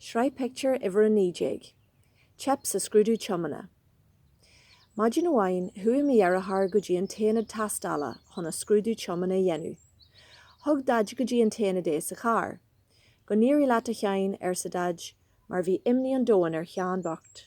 Sraith Pictiúr Uimhir 19. Teip sa scrúdú tiomána. Maidin amháin, chuaigh mo dheartháir go dtí an t-ionad tástála chun a scrúdú tiomána a dhéanamh. Thug Daid go dtí an t-ionad é sa charr. Go n-éirí leat, a Sheáin, arsa Daid, mar bhí imní an domhain ar Sheán bocht.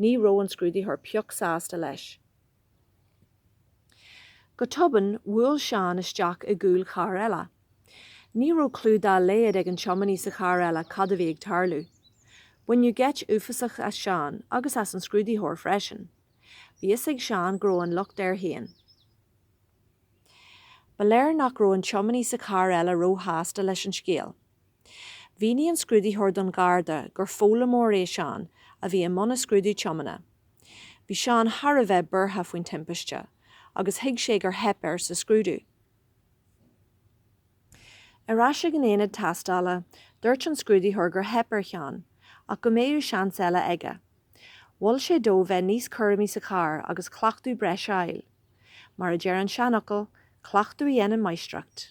Ní raibh an scrúdaitheoir pioc sásta leis. Go tobann, bhuail Seán isteach i gcúl carr eile. Ní raibh clú dá laghad ag an tiománaí sa charr eile cad a bhí ag tarlú. Baineadh geit uafasach as Seán agus as an scrúdaitheoir freisin. Bhí a fhios ag Seán go raibh an locht air féin. Ba léir nach raibh an tiománaí sa charr eile ró-shásta leis an scéal. Mhínigh an scrúdaitheoir don Gharda gur foghlaimeoir é Seán a bhí i mbun a scrúdú tiomána. Bhí Seán thar a bheith buartha faoin timpiste agus thuig sé gur theip air sa scrúdú. Ar ais ag an ionad tástála, dúirt an scrúdaitheoir gur theip ar Sheán ach go mbeadh seans eile aige. Mhol sé dó bheith níos cúramaí sa charr agus cleachtadh breis a fháil. Mar a deir an seanfhocal, Cleachtadh a dhéanann máistreacht.